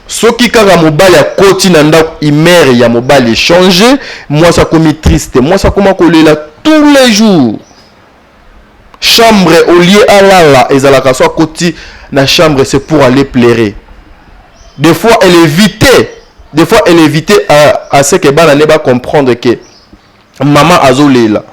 Soki kaka mobali akoti na ndako humeur ya mobali echange, mwasi akomi triste, mwasi akoma kolela tous les jours. Chambre au lieu alala ezalaka so akoti na chambre c'est pour aller pleurer. Des fois elle évite, des fois elle évite à, à ce que bana ne ba comprendre que Maman azo lela.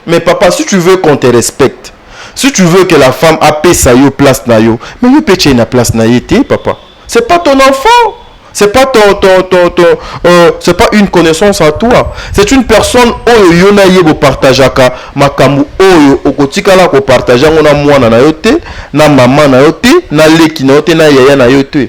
Mais papa si tu veux qu'on te respecte, si tu veux que la femme apesa yo place na yo, mais yo pe tie na place na ye te papa. C'est pas ton enfant. C'est pas ton, ton, ton, ton euh, c'est pas une connaissance à toi. C'est une personne oyo yo na ye bo partageaka makambo oyo okotikala ko partager yango na mwana na yo te, na maman na yo te, na leki na yo te, na yaya na yo te.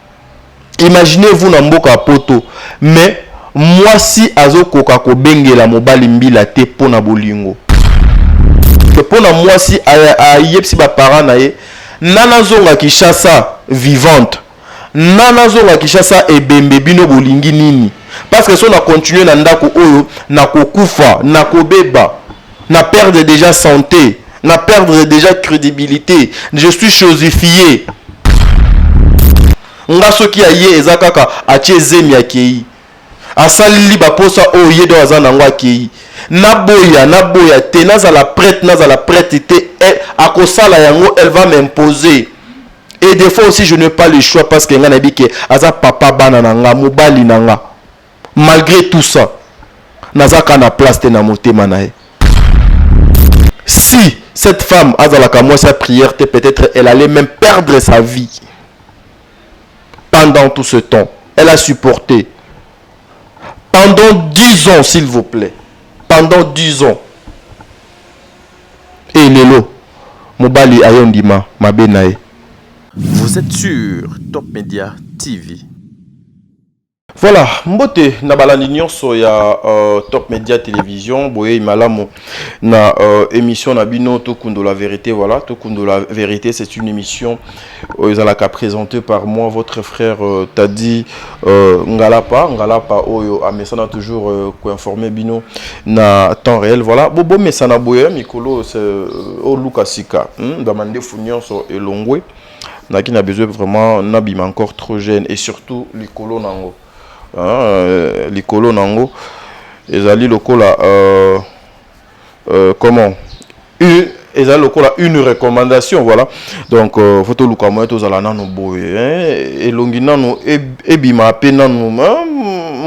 Imaginez vous na mboka ya poto mais mwasi azo koka ko bengela mobali mbila te po na bolingo que po na mwasi a yebisi ba parents na ye na na zonga Kinshasa vivante na na zonga Kinshasa ebembe bino bolingi nini? Parce que soki na continuer na ndaku oyo na ko kufa na ko beba. Na perdre dejà sante, na perdre dejà credibilite, je suis chosifier. Nga soki aye eza kaka atie zemi akeyi. Asalli ba posa oyo ye donc aza nango akeyi. Na boya na boya te, nazala prete nazala prete te elle akosala yango elle va m'imposer. Et des fois aussi je n'ai pas le choix parce que nga nayebi que aza papa bana na nga, mobali na nga. malgre tout ça naza ka na place te na motema na ye si cette femme azalaka mwasi ya prière te peut-être elle allait même perdre sa vie pendant tout ce temps elle a supporté pendant 10 ans s'il vous plaît pendant 10 ans e lelo mobali ayo ndima mabe na ye vous êtes sur top media tv Voilà, mbote na balandi nyonso ya euh, Top Media Télévision, boye malamu na euh, émission na bino Tokundo la vérité, voilà, Tokundo la vérité, c'est une émission euh, ezalaka présentée par moi votre frère euh, Tadi euh, Ngalapa, Ngalapa oyo amesana toujours euh, ko informer bino na temps réel, voilà. Bobo mesana boye mikolo c'est euh, au Lukasika, hmm, ba mandefu nyonso elongwe. Naki na besoin vraiment na bima encore trop jeune et surtout likolo nango euh, likolo nango ezali lokola euh, euh, comment une ezali lokola une recommandation voilà donc euh, faut toluka moyen tozala nano boye hein? elongi nano ebima pe nano hein?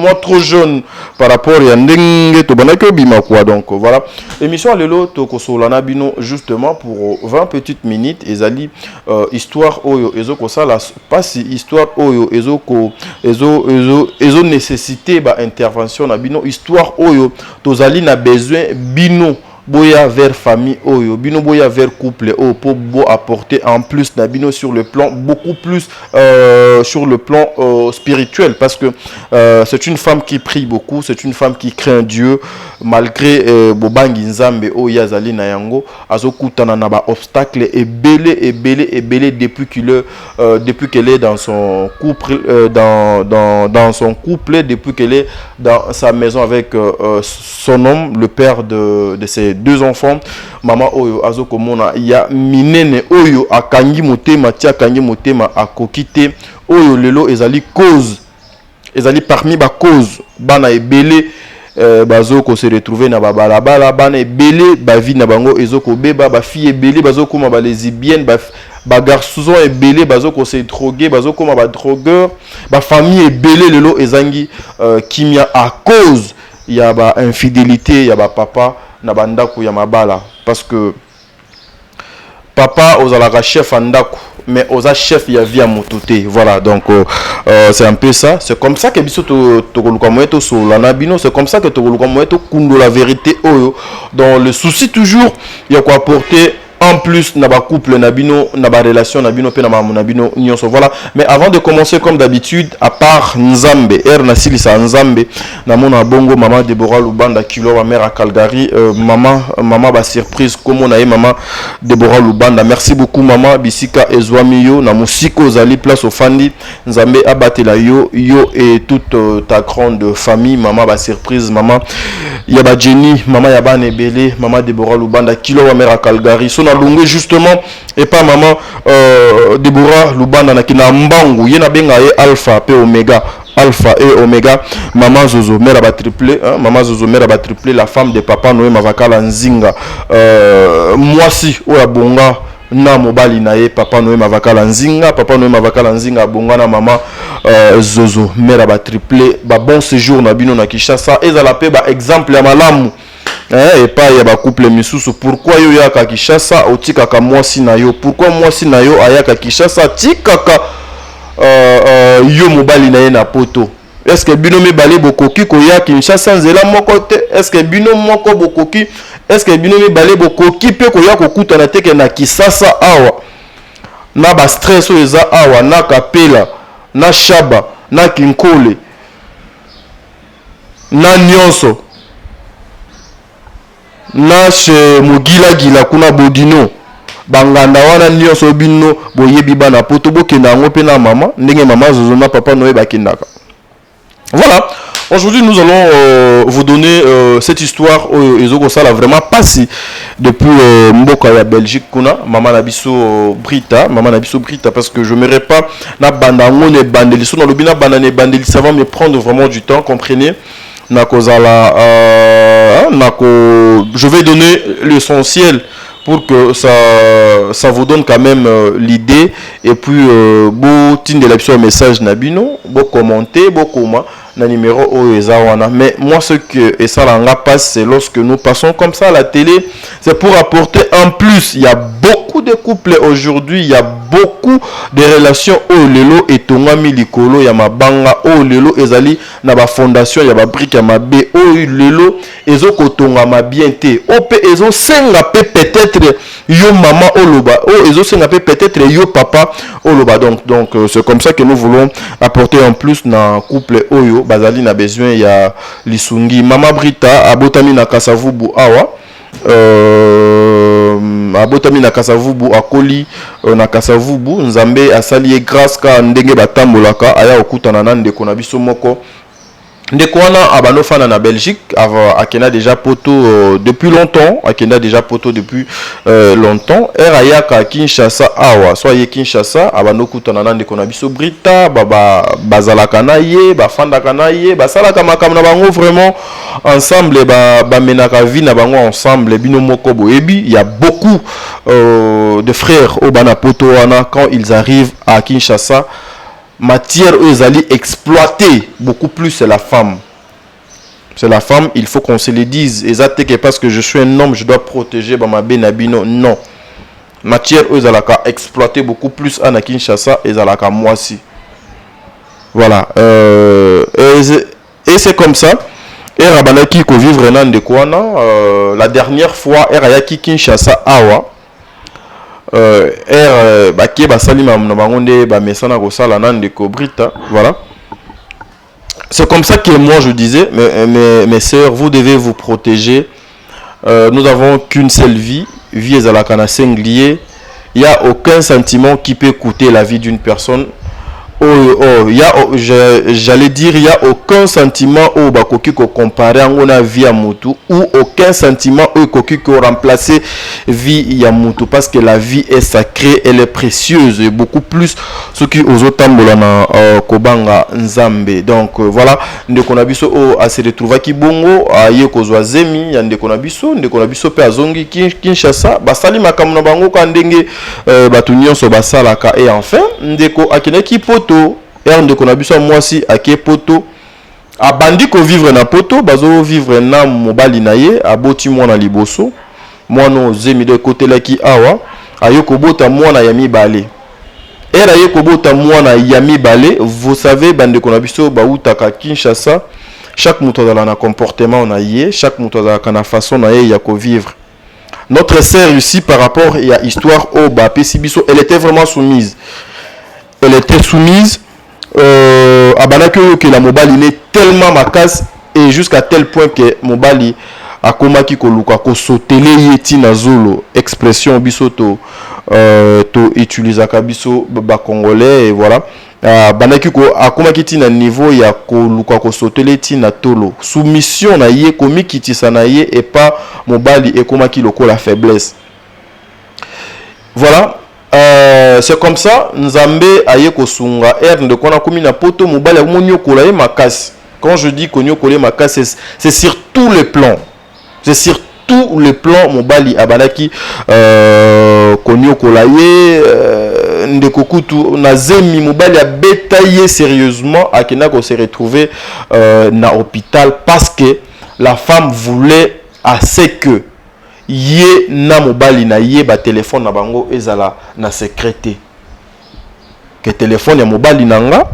moi trop jeune par rapport ya ndenge tobandaki obima quoi donc voilà émission ya lelo tokosola na bino justement pour 20 petites minutes ezali euh, histoire oyo ezokosala mpasi histoire oyo ezoko ezo, ezo, ezo nécessité baintervention na bino histoire oyo tozali na besoin bino Boya vers famille oyo bino boya vers couple oyo po bo apporter en plus na bino sur le plan beaucoup plus euh, sur le plan euh, spirituel parce que euh, c'est une femme qui prie beaucoup c'est une femme qui craint Dieu malgré euh, bobangi nzambe oyo ye azali na yango azokutana na ba obstacle ebele ebele ebele depuis qu'il est Euh, depuis qu'elle est dans son couple, euh, dans, dans, dans, son couple, depuis qu'elle est dans sa maison avec euh, euh son homme, le père de, de ses deux enfants. Maman Oyo, Azo Komona, il y a Minene Oyo, Akangi Motema, Tia Kangi Motema, Akokite, Oyo Lelo, Ezali cause Ezali parmi ba causes bana ebele euh, bazo ko se retrouver na ba balabala, bana ebele ba vie na bango ezo ko beba, ba filles ebele bazo koma ba lesbiennes, ba, ba garçons ebele bazo ko se droguer, bazo koma ba drogueurs, ba familles ebele lelo ezangi euh, kimia à cause ya ba infidelites ya ba papa na ba ndaku ya mabala parce que Papa ozalaka chef ya ndako mais oza chef ya vie ya mutu te voilà donc euh, euh c'est un peu ça c'est comme ça que biso tokoluka moyen tosolola na bino c'est comme ça que tokoluka moyen tokundola vérité oyo dans le souci toujours ya koapporter en plus na ba couple na bino na ba relation na bino pe na mamu na bino nyonso voilà mais avant de commencer comme d'habitude à part nzambe er na silisa nzambe namona bongo mama debora lubanda kilo ma mère à calgary euh, mama mama ba surprise komona ye mama debora lubanda merci beaucoup mama bisika ezwami yo na mosika ozali place ofandi nzambe abatela yo yo et toute euh, ta grande famille mama ba surprise mama ya ba jenny mama ya bana ebele mama debora lubanda kilo ma mère à calgary so nalongwe justement epa mama euh, debora lubanda na kina mbangu ye nabenga ye alpha pe omega Alpha et Omega, Maman Zozo, mère ba triplé, hein? Maman Zozo, mère ba triplé, la femme de Papa Noé Mavakala Nzinga, euh, Mwasi, Oya Bonga, na mobali na ye papa noye mavakala nzinga papa noye mavakala nzinga abonga na mama euh, zozo mère ba triplé ba bon séjour na bino na kinshasa ezala mpe ba exemple ya malamu Eh, epai ya ba couple misusu pourquoi yo yaka Kinshasa otikaka mwasi na yo pourquoi mwasi na yo ayaka Kinshasa atikaka uh, uh, yo mobali na ye na poto est-ce que bino mibale bokoki koya Kinshasa nzela moko te est-ce que bino moko bokoki est-ce que bino mibale bokoki pe koya kokutana teke na Kisasa awa na ba stress oyo eza awa na Kapela na Shaba na Kinkole na nionso na chez mogila gila kuna bodino ba nganda wana nionso bino boyebi bana poto bokenda yango pe na mama ndenge mama zozo na papa noye bakendaka voilà Aujourd'hui, nous allons euh, vous donner euh, cette histoire oyo ezokosala vraiment pasi depuis euh, mboka ya Belgique kuna mama na biso euh, Brita, mama na biso Brita parce que je me pas Na banda yango na ebandeli, so nalobi na banda na ebandeli, ça va me prendre vraiment du temps, comprenez na kozala euh, hein, na ko je vais donner l'essentiel pour que ça, ça vous donne quand même euh, l'idée et puis euh, botindela biso message na bino bokommente bokoma na numero oyo eza wana mais moi ce que esala nga passe c'est lorsque nous passons comme ça à la télé c'est pour apporter en plus il y a beaucoup de couples aujourd'hui il y a beaucoup de relations oyo lelo etongami likolo ya mabanga oyo lelo ezali na bafondation ya babrike ya mabe oyo lelo ezo kotongama bien te o oh, pe ezo senga pe peut-être yo maman oloba o oh, ezo senga pe peut-être yo papa oloba donc donc euh, c'est comme ça que nous voulons apporter en plus na couple oyo bazali na besoin ya lisungi maman Brita abotami na Kasavubu awa euh, abotami na kasavubu akoli euh, na kasavubu nzambe asali ye grâce ka ndenge batambolaka aya kokutana na ndeko na biso moko ndeko wana abanda ofanda na belgique akenda déjà poto euh, depuis longtemps akenda déjà poto depuis euh, longtemps ere ayaka kinshasa awa so aye kinshasa abanda okutana na ndeko na biso brita bazalaka na ye bafandaka na ye basalaka makambo na bango vraiment ensemble bamenaka ba vie na bango ensemble bino moko boyebi ya beaucoup euh, de frères oyo bana poto wana quand ils arrivent à kinshasa Matière oyo ezali exploite beaucoup plus c'est la femme. C'est la femme, il faut qu'on se le dise. Eza te que parce que je suis un homme, je dois protéger ba mabe na bino. Non. Matière oyo ezalaka exploite beaucoup plus à na Kinshasa ezalaka mwasi. Voilà. Euh, et c'est comme ça. Era abandaki ko vivre na ndeko wana. Euh, la dernière fois, era yaki Kinshasa awa. Euh, er, euh, bake basali mamu na bango nde bamesana kosala na ndeko Brita, voilà. C'est comme ça que moi je disais, mes, euh, mes, mes sœurs, vous devez vous protéger. Euh, nous avons qu'une seule vie, vie ezalaka na singulier. Il n'y a aucun sentiment qui peut coûter la vie d'une personne. Oyo oh ya j'allais dire ya aucun sentiment oyo bakoki ko comparer yango na vie ya mutu ou aucun sentiment oyo ekoki ko remplacer vie ya mutu parce que la vie est sacrée elle est précieuse et beaucoup plus soki ozo tambola na uh, kobanga nzambe donc uh, voilà ndeko na biso oyo oh, ase retrouvaki bongo aye uh, kozwa zemi ya ndeko na biso ndeko na biso pe azongi Kinshasa basali makambo na bango ka ndenge euh, bato nyonso basalaka e enfin ndeko akendaki poto ere ndeko na biso ya mwasi ake poto abandi kovivre na poto bazovivre na mobali na ye aboti mwana liboso mwana oyo zemi do ekotelaki awa aye kobota mwana ya mibale ere aye kobota mwana ya mibale vous savez bandeko na biso bautaka kinshasa chaque moto azala na comportement na ye chaque moto azalaka na façon na ye ya kovivre Notre sœur ici par rapport ya histoire oyo bapesi biso, elle était vraiment soumise. Elle était soumise euh, abandaki oyokela mobali ne tellement makasi et jusqu'à tel point que mobali akomaki koluka kosotele ye ntina zolo expression biso to euh, to utilisaka biso bacongolais et voilà A bandaki ko, a komaki ti na niveau ya ko luka ko sotele ti na tolo. Soumission na ye, ko mikitisa na ye epa mobali e komaki lokola faiblesse. Voilà, a c'est comme ça Nzambe a ye ko sunga. Heure ndeko wana a komi na poto, mobali a komi ko niokola ye makasi. Quand je dis ko niokola ye makasi, c'est sur tous les plans. c'est sur tout le plan mobali abandaki euh, koniokola ye euh, ndeko kutu na zemi mobali abeta ye sérieusement akenda ko se retrouver euh, na hôpital parce que la femme voulait à ce que ye na mobali na ye batelefone na bango ezala na secret te ke telephone ya mobali na nga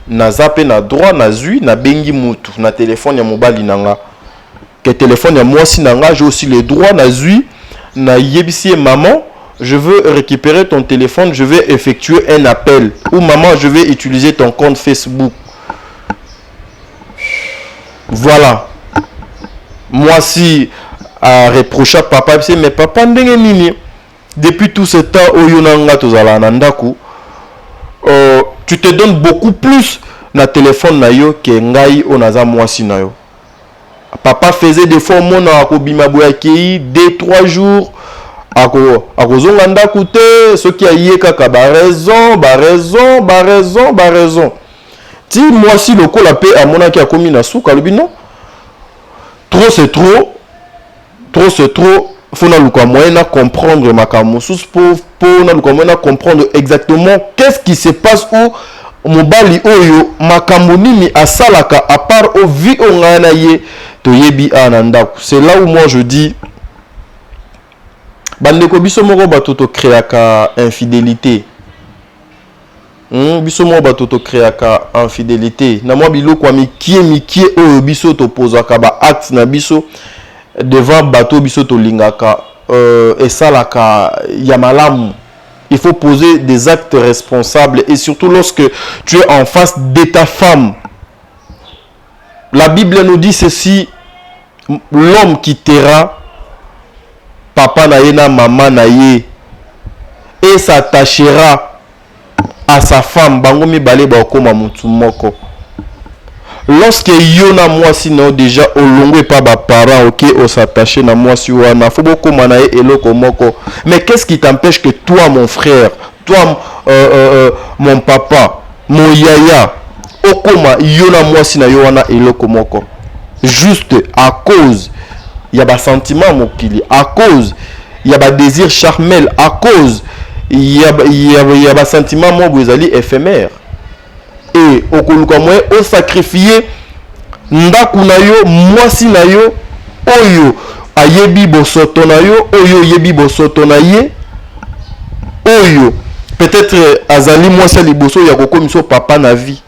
naza pe na droit na zui na bengi mutu na telephone ya mobali na nga ke telephone ya mwasi na nga je aussi le droit na zui na yebisi ye maman je veux recuperer ton telephone je veux effectuer un appel ou maman je veux utiliser ton compte Facebook voilà mwasi a reprocha papa bise mais papa ndenge nini Depuis tout ce temps oyo yo na nga tozalaka na ndaku euh, tu te donnes beaucoup plus na telephone na yo ke ngai oyo naza mwasi na yo papa faisait des fois omona akobima boye akei deux trois jours ako akozonga ndaku te soki aye kaka ba raison ba raison ba raison ba raison ti mwasi lokola mpe amonaki akomi na suka alobi non trop c'est trop trop ce trop faut na luka moyen na comprendre makambo mosusu po po na luka moyen na comprendre exactement qu'est-ce qui se passe ou mobali oyo makambo nini asalaka à part au vie oyo ngai na ye toyebi awa na ndako c'est là où moi je dis bandeko biso moko bato tokreaka infidélité Hum, biso mwa bato tokreaka infidelite na mwa biloko ya mikie mikie oyo biso topozaka ba acte na biso devant bato oyo biso tolingaka euh, esalaka ya malamu il faut poser des actes responsables et surtout lorsque tu es en face de ta femme La Bible nous dit ceci, l'homme qui terra papa na ye na mama na ye et s'attachera à sa femme, bango mibale bakoma mutu moko. Lorsque yo na mwasi na yo deja olongwe pa ba parents, ok, o s'attacher na mwasi wana, faut bokoma na ye eloko moko. Mais qu'est-ce qui t'empêche que toi mon frère Toi euh, euh, euh, mon papa, mon yaya, okoma yo na mwasi na yo wana eloko moko juste à cause ya ba sentiments mokili, à cause ya ba désir charmel, à cause ya, ya, ya ba sentiments moko ezali éphémère. et okoluka moyen o sacrifier ndaku na yo, mwasi na yo oyo ayebi bosoto na yo, oyo oyebi bosoto na ye, oyo peut-être azali mwasi ya liboso ya kokomisa papa na vie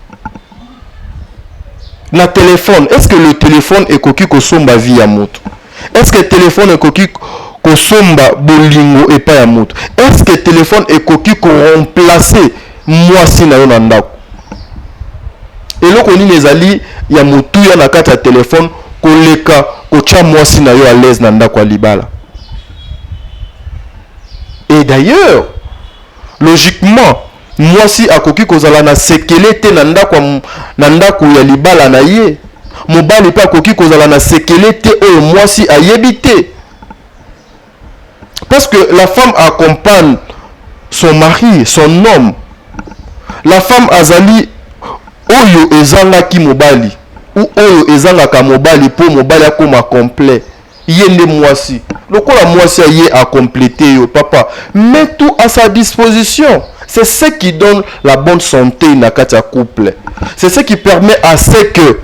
na telefone. Est-ce que le telefone ekoki kosomba vie ya moto? Est ce que telephone ekoki kosomba bolingo epai ya moto? Est ce que telephone ekoki ko remplacer mwasi na yo na ndako? Eloko nini ezali ya motuya na kati ya telephone koleka kotya mwasi na yo à l'aise na ndako ya libala? Et d'ailleurs, logiquement, Mwasi akoki kozala na sekele te na ndako ya, na ndako ya libala na ye. Mobali mpe akoki kozala na sekele te oyo mwasi ayebi te. Parce que la femme accompagne son mari, son homme. La femme azali oyo ezangaki mobali ou oyo ezangaka mobali mpo mobali akoma complet. Ye nde mwasi lokola mwasi ya ye a complete yo papa met tout à sa disposition c'est ce qui donne la bonne sante na kati ya couple c'est ce qui permet à ce que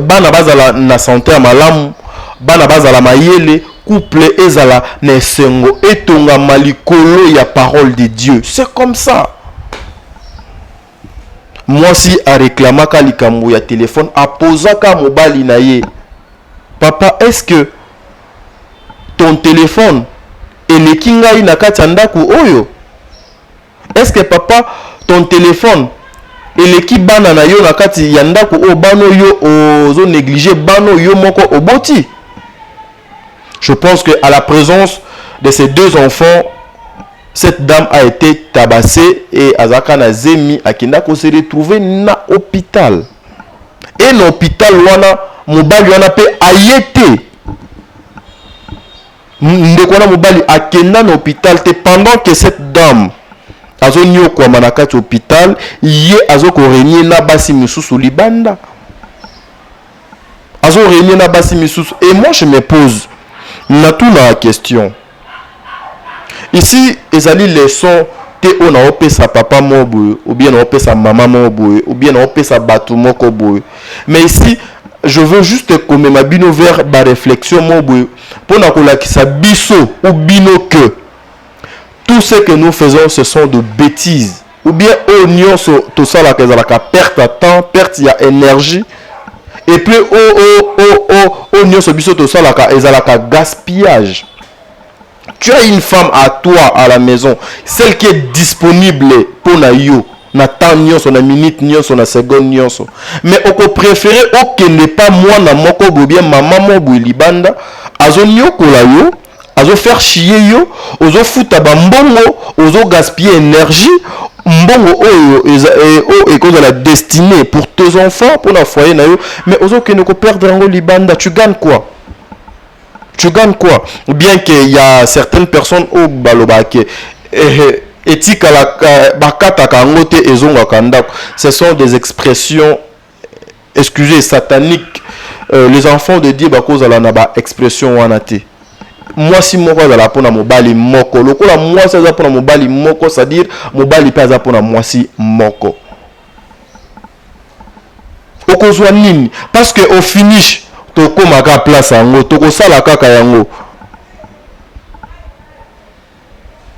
bana bazala na sante ya malamu bana bazala mayele couple ezala na esengo etongama likolo ya parole de Dieu c'est comme ça Mwasi a reclamaka likambo ya telephone a pozaka mobali na ye papa est ce que ton telephone eleki ngai na kati ya ndaku oyo? Est ce que papa ton telephone eleki bana na yo na kati ya ndaku oyo bana oyo yo ozo negliger bana oyo yo moko oboti? Je pense que à la presence de ces deux enfants, cette dame a été tabassée et Azaka Nazemi Akindako s'est retrouvé na hôpital. Et na hôpital wana mobali wana pe ayete ndeko wana mobali akenda na hôpital te pendant que cette dame azoniokwama na kati hôpital ye azokorenie na basi misusu libanda azo renie na basi misusu et moi je me pose na tout na question ici ezali leçon te oyo naopesa papa moko boye obien naopesa mama moko boye obien naopesa bato moko boye mais ici je veux juste komema bino vers baréflexion moko boye mpo na kolakisa biso ou bino que tout ce que nous faisons ce sont de bêtises ou bien oyo nyonso tosalaka ezalaka perte ya temps perte ya énergie et puis oyo nyonso biso tosalaka ezalaka gaspillage tu as une femme à toi à la maison celle qui est disponible mpo na yo na temps nyonso na minute nyonso na seconde nyonso mais okopréféré okende mpa mwana moko bobien mama moko boye libanda azoniokola yo azo faire chier yo ozo futa ba mbongo ozo gaspiller energie mbongo oyo e, ekozala destiné pour tes enfants pour la foyer na yo mais ozo kende ko perdre yango libanda tu gagne quoi tu gagnes quoi bien que y a certaines personnes au baloba ke eh, etikala bakataka yango te ezongaka ndako ce sont des expressions excusez satanique euh, les enfants de dieu bakozala na ba expression wana te mwasi moko azala mpo na mobali moko lokola mwasi aza mpo na mobali moko c'est-à-dire mobali mpe aza mpo na mwasi moko okozwa nini parce que au finish tokomaka place yango tokosala kaka yango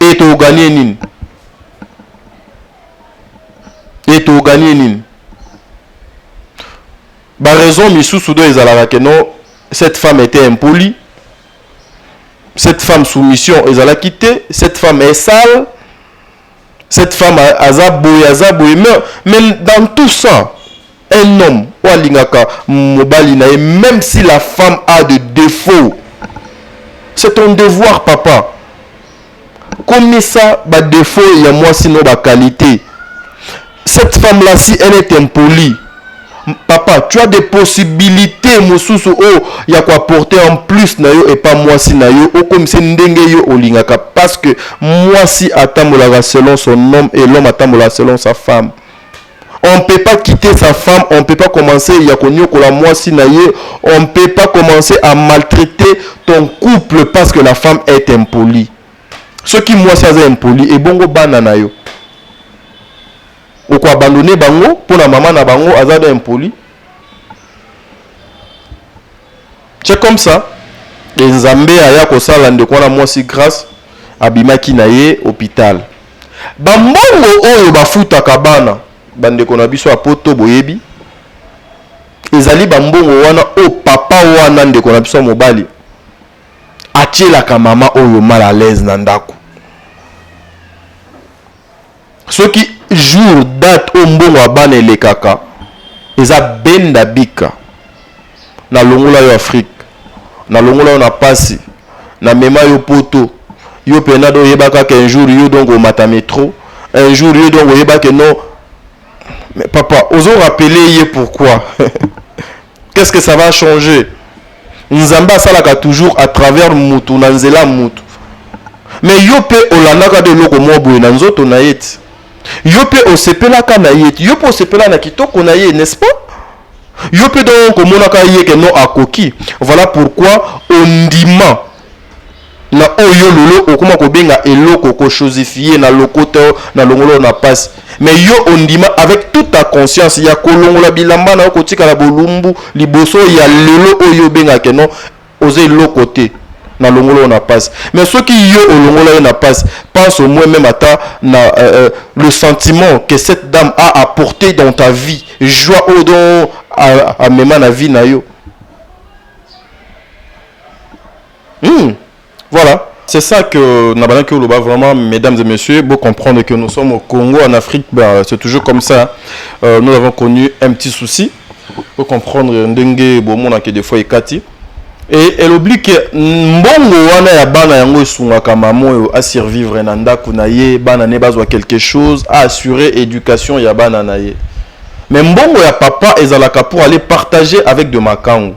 Et to gagner nini? Et to gagner nini? Ba raison misusu do ezalaka que non cette femme était impolie. Cette femme soumission ezalaki te, cette femme est sale. Cette femme aza boye aza boye mais, mais dans tout ça un homme oyo alingaka mobali na ye même si la femme a de défaut c'est ton devoir papa komisa badefo ya mwasi no bakalite cette femme là si elle est impolie Papa tu as des possibilites mosusu oyo ya ko apporter en plus na yo epa mwasi na yo okomisa ye ndenge yo olingaka parce que mwasi atambolaka selon son homme et l'homme atambolaka selon sa femme on ne peut pas quitter sa femme on ne peut pas commencer ya koniokola mwasi na ye on ne peut pas commencer à maltraiter ton couple parce que la femme est impolie soki mwasi aza impoli ebongo bana na yo Oko abandonner bango pona maman na bango aza nde impoli ce comme ça et nzambe aya kosala ndeko wana mwasi grace abimaki na ye hopital ba mbongo oyo bafutaka bana bandeko na biso ya poto boyebi ezali ba mbongo wana oyo papa wana ndeko na biso ya mobali atielaka mama oyo mal à l'aise na ndako Soki jour date oyo mbongo ya bana elekaka eza benda bika na longola yo Afrique na longola yo na pasi na mema yo poto yo pena do yeba kaka un jour yo donc omata metro un jour yo donc oyeba que non mais papa ozo rappeler ye pourquoi? Qu'est ce que ça va changer? Nzambe asalaka toujours à travers mutu na nzela mutu. Mais yo pe olandaka de eloko mwa boye na nzoto na ye ti. Yo pe osepelaka na ye ti. Yo pe osepela na kitoko na ye, n'est-ce pas? Yo pe donc omonaka ye ke non akoki. Voilà pourquoi ondima na oyo yo lelo okoma kobenga eloko ko chosifier na lokoto na longolo na pasi mais yo ondima avec toute ta conscience ya kolongola bilamba na yo kotikala bolumbu liboso ya lelo oyo obenga ke non oza eloko te na longolo na pasi mais soki yo olongola ye na pasi pense au moins même ata na euh, euh, le sentiment que cette dame a apporté dans ta vie joie oyo don amema na vie na yo Mmh. Voilà. C'est ça que Nabanak Oloba, vraiment, mesdames et messieurs, vous comprenez que nous sommes au Congo, en Afrique, ben, c'est toujours comme ça. Euh, nous avons connu un petit souci. Vous comprenez, Ndenge, Bomona, que des fois, il kati. Et elle oublie que Mbongo, wana ya bana yango esungaka mama oyo a survivre na ndako na ye, bana ne bazwa quelque chose, a assurer éducation ya bana na ye. Mais Mbongo ya papa ezalaka pour aller partager avec de makango.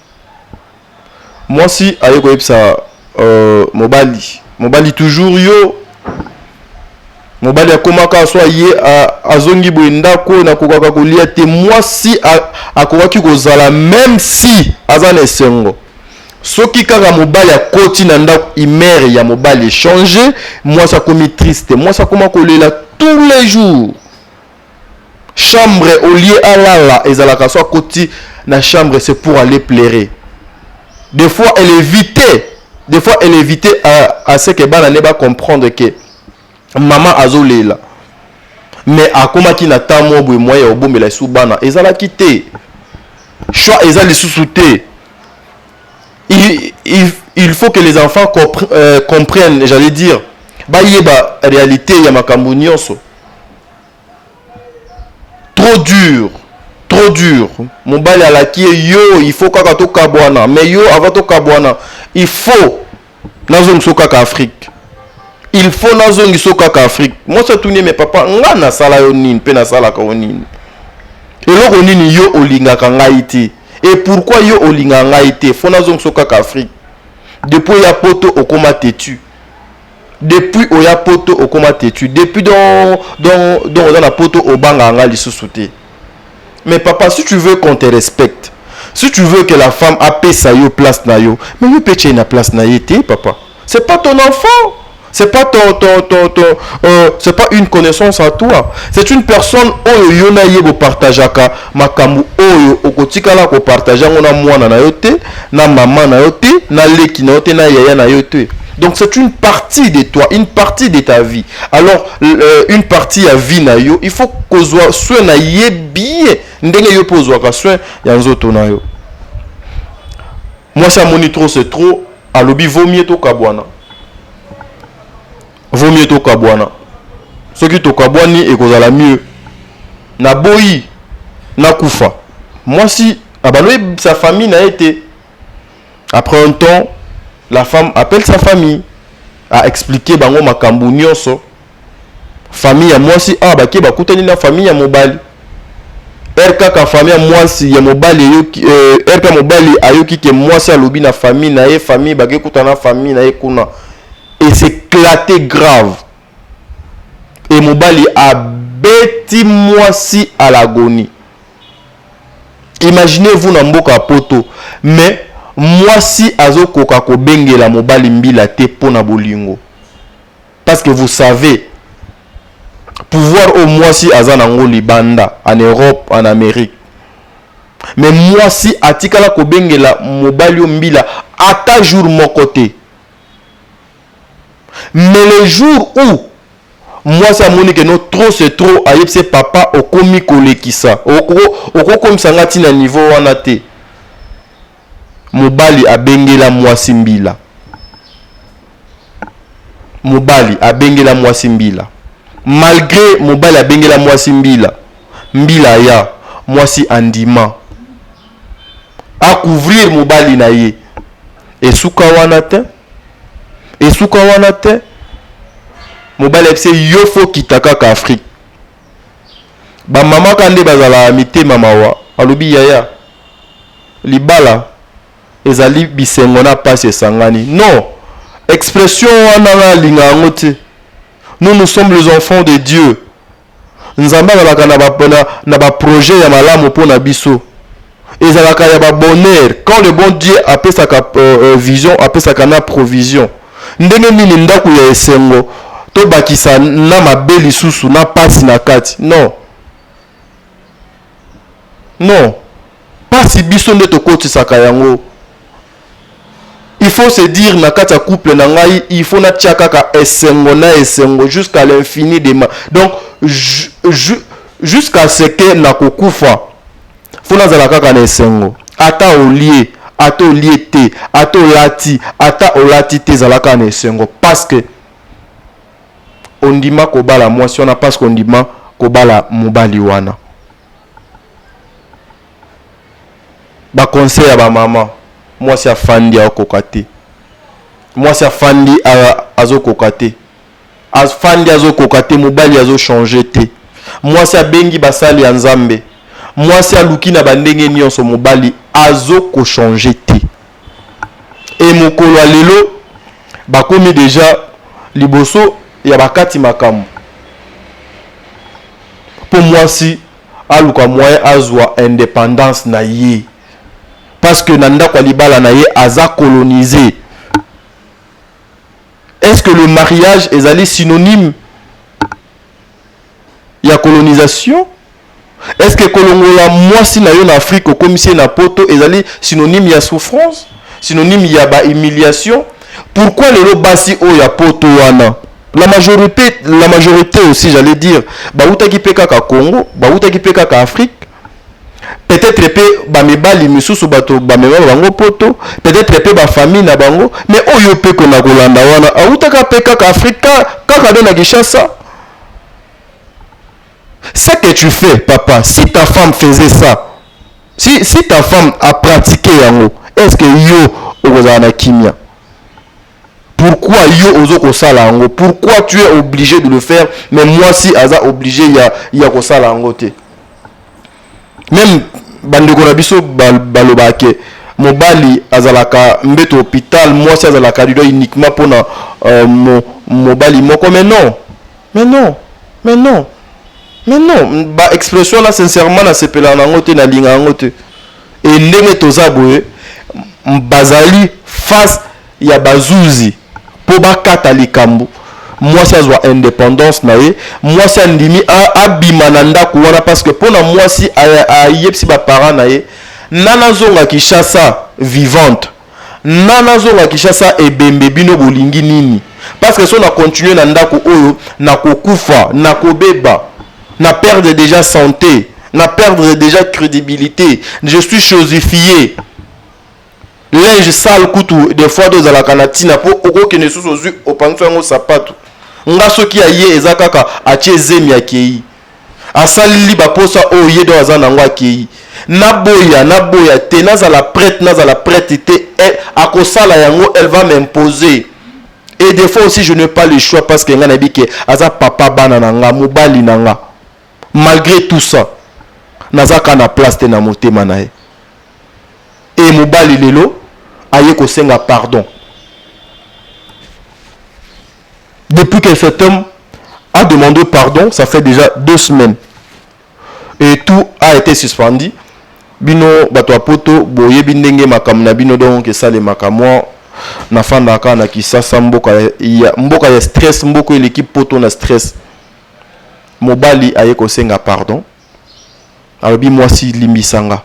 Mwasi aye koyebisa euh, mobali mobali toujours yo mobali akomaka so aye azongi boye ndako oyo nakokaka kolia te mwasi akokaki kozala meme si aza na esengo soki kaka mobali akoti na ndako imere ya mobali echange mwasi akomi triste mwasi akoma kolela tous les jours chambre au lieu alala ezalaka so akoti na chambre c'est pour aller plaire des fois elle évite des fois elle évite à, à ce que bana ne ba comprendre que mama azolela mais akomaki na temps moko boye moyen ya kobomela lisusu bana ezalaki te choix eza lisusu te il, il, il faut que les enfants compre, euh, comprennent j'allais dire bayeba réalité ya makambo nyonso trop dur trop dur mobali alaki ye yo il faut kaka tokabwana mais yo avant tokabwana il faut nazongi so kaka afrique il faut nazongi so kaka afrique mwasi atuni ye me papa ngai nasala yo nini mpe nasalaka yo nini eloko nini yo olingaka ngai te e pourkui yo olingaka ngai te fo nazongi so kaka afrique depuis ya poto okoma tetu Depuis oya poto okoma tetu depuis don don don oza na poto obanga nga lisusu te mais papa si tu veux qu'on te respecte si tu veux que la femme apesa yo place na yo mais yo pe ce na place na ye te papa c'est pas ton enfant c'est pas ton ton ton ton euh, c'est pas une connaissance à toi c'est une personne oyo yo na ye bopartageaka makambo oyo okotikala kopartage yango na mwana na yo te na mama na yo te na leki na yo te na yaya na yo te Donc c'est une partie de toi, une partie de ta vie. Alors euh, une partie à vie na yo, il faut que soit soin na ye bien ndenge yo pose ka soin ya nzoto na yo. Moi ça moni trop c'est trop, alobi vaut mieux to kabwana. Vaut mieux to kabwana. Ce qui to kabwani et kozala mieux. Na boyi na kufa. Moi si abaloye sa famille na été Après un temps, la femme appelle sa famille, a expliquer bango makambo nyonso. Famille ya mwasi awa bake bakutani na famille ya mobali. RKK famille ya mwasi ya mobali eyoki euh, RK mobali ayoki ke mwasi alobi na famille na ye famille bake kutana na famille na ye kuna. Et c'est éclaté grave. Et mobali abeti mwasi à l'agonie. Imaginez vous na mboka ya poto mais mwasi azo koka ko bengela mobali mbila te pona bolingo parce que vous savez pouvoir oyo mwasi aza na ngo libanda en Europe en Amerique mais mwasi atikala ko bengela mobali oyo mbila ata jour moko te. mais le jour où mwasi amoni que non trop c'est trop ayebisi ye papa okomi kolekisa okokomisa nga ti na niveau wana te mobali abengela mwasi mbila mobali abengela mwasi mbila malgre mobali abengela mwasi mbila mbila aya mwasi andima akouvrir mobali na ye esuka wana te Esuka wana te. Mobali ayebisi ye yo fo kita kaka Afrique. Ba mama ka nde bazalaka mitema mawa. Alobi yaya libala ezali bisengo na pasi esangani. Non expression wana nga nalinga yango te. Nous nous sommes les enfants de Dieu. Nzambe azalaka na ba, na, na ba projet ya malamu mpo na biso ezalaka ya ba bonheur quand le bon Dieu apesaka uh, uh, vision apesaka na provision. Ndenge nini ndako ya esengo tobakisa na mabe lisusu na pasi na kati? Non. Non pasi biso nde tokotisaka yango il faut se dire na kati ya couple na ngai il faut natia kaka esengo na esengo jusqu'à l'infini de ma donc jusqu'à ce que nakokufa faut nazala kaka na esengo ata olie ata olie te ata olati ata olati te ezalaka na esengo parce que ondima kobala mwasi wana parce que ondima kobala mobali wana ba conseil ya ba mama mwasi afandi akoka te mwasi afandi azokoka te afandi azokoka te mobali azochange te mwasi abengi basali ya nzambe mwasi aluki na bandenge nyonso mobali azokochange te Et mokolo ya lelo bakomi deja liboso ya bakati makambo mpo mwasi aluka moyen azwa independance na ye parce que na ndako ya libala na ye aza colonise. Est-ce que le mariage ezali synonyme ya colonisation est ce que kolongola mwasi na yo na afrique okomisi ye na poto ezali synonyme ya souffrance synonyme ya ba humiliation pourquoi lelo basi oyo ya poto wana la majorité, la majorité aussi j'allais dire bautaki mpe kaka congo bautaki mpe kaka afrique peut-être pe ba mibali misusu bato bamema bango poto peut-être pe ba famille na bango mais oyo pe kona kolanda wana awutaka pe kaka afrika kaka nde na kinshasa ce que tu fais papa si ta femme faisait ça si, si ta femme a pratiqué yango est ce que yo okozala na kimia Pourquoi yo ozo kosala yango? Pourquoi tu es oblige de le faire mais mwasi aza oblige ya ya kosala yango te? Meme bandeko na biso balobaka ke mobali azalaka mbeto hopital mwasi azalaka lido uniquement mpona euh, mo, mobali moko mais non mais non mais non mais non ba expression na sincèrement nasepelaka na yango te nalinga yango te Et ndenge toza boye bazali face ya bazuzi po bakata likambo mwasi azwa independance na ye mwasi andimi abima na ndako wana parce que pona mwasi ayebisi ba parents na ye nana azonga Kinshasa vivante Nga nazonga Kinshasa ebembe bino bolingi nini parce que soki na continuer na ndaku oyo nakokufa nakobeba na perdre dejà sante na perdre dejà credibilite je suis chosifier linge sale kutu de fois ezalaka na tina po okokende lisusu ozui opangusa yango sapatu nga soki aye eza kaka atie zemi akeyi. asaleli baposa oyo ye don aza nango akeyi naboya naboya te nazala prete nazala prete te eh, akosala yango elle va m'imposer et des fois aussi je n'ai pas le choix parce que nga nayebi ke aza papa bana na nga mobali na nga malgré tout ça naza ka na place te na motema na ye e mobali lelo aye kosenga pardon Depuis que cet homme a demandé pardon, ça fait déjà deux semaines. Et tout a été suspendu. Bino bato ya poto boyebi ndenge makambo na bino donc esalemaka mwa nafandaka na kisasa mboka ya, mboka ya stress mboka eleki poto na stress mobali aye kosenga pardon alobi mwasi limbisanga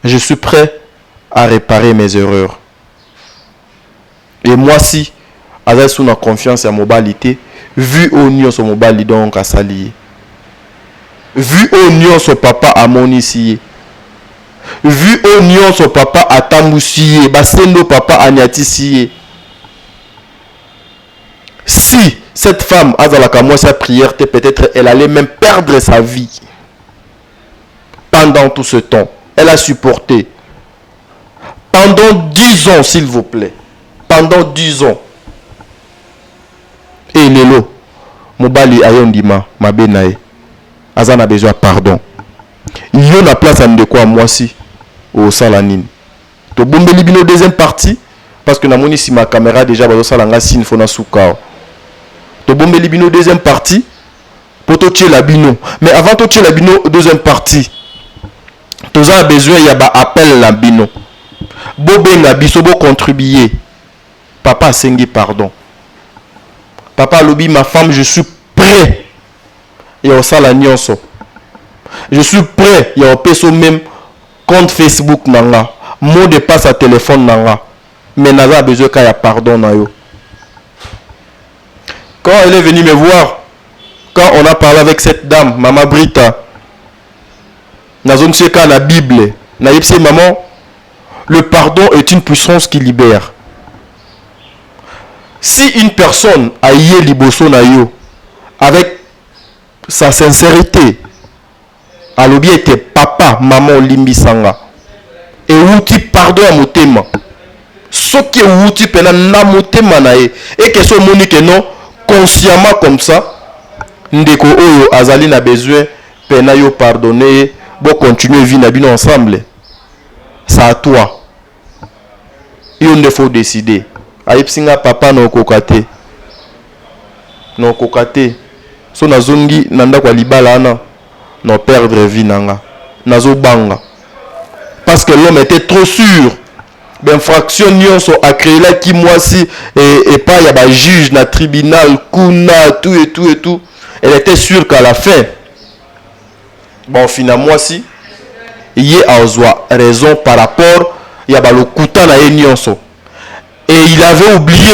je suis prêt à réparer mes erreurs Et mwasi aza lisusu na confiance ya mobali te vu oyo nionso mobali donc asali ye. Vu oyo nionso papa amonisi ye. Vu oyo nionso papa atambusi ye, ba sende oyo papa aniatisi ye. Si cette femme azalaka mwasi ya prière te peut-etre elle allait même perdre sa vie. Pendant tout ce temps, elle a supporte. pendant 10 ans s'il vous plait pendant 10 ans et lelo mobali ayo ndima mabe na ye aza na besoin pardon yo na place ya ndeko ya mwasi osala nini tobombeli bino deuxième partie parce que namoni nsima ya camera déjà bazosala nga sine fona sukao tobombeli bino deuxième partie mpo totyela bino mais avant totyela bino deuxième partie Toza na besoin ya ba appel na bino bo benga biso bo contribuer papa asengi pardon papa alobi ma femme je suis près ya osala nionso je suis près ya opesa o meme compte Facebook na nga mot de passe ya telephone na nga mais naza na besoin ka ya pardon na yo quand elle est venue me voir quand on a parle avec cette dame mama Brita nazongisi ye kaka na bible nayebisi ye maman le pardon est une puissance qui libère si une personne aye liboso na yo avec sa sincérité alobi ete papa maman olimbisa nga ewuti pardon ya motema soki ewuti pena na motema na ye et que esi omoni que non consciemment comme ça ndeko oyo azali na besoin pena yo pardonner ye bo continuer vie na bino ensemble c'est à toi yo nde faut decider ayebisi nga papa na okoka te na okoka te so nazongi na ndako ya libala wana na perdre vie na nga nazo banga parce que l'homme était trop sur bainfraction nyonso akreelaki mwasi epai ya bajuge na tribunal kuna tout et tout et tout elle était sûre qu'à la fin baofina mwasi ye azwa raison par rapport ya balokuta na ye nyonso et il avait oublié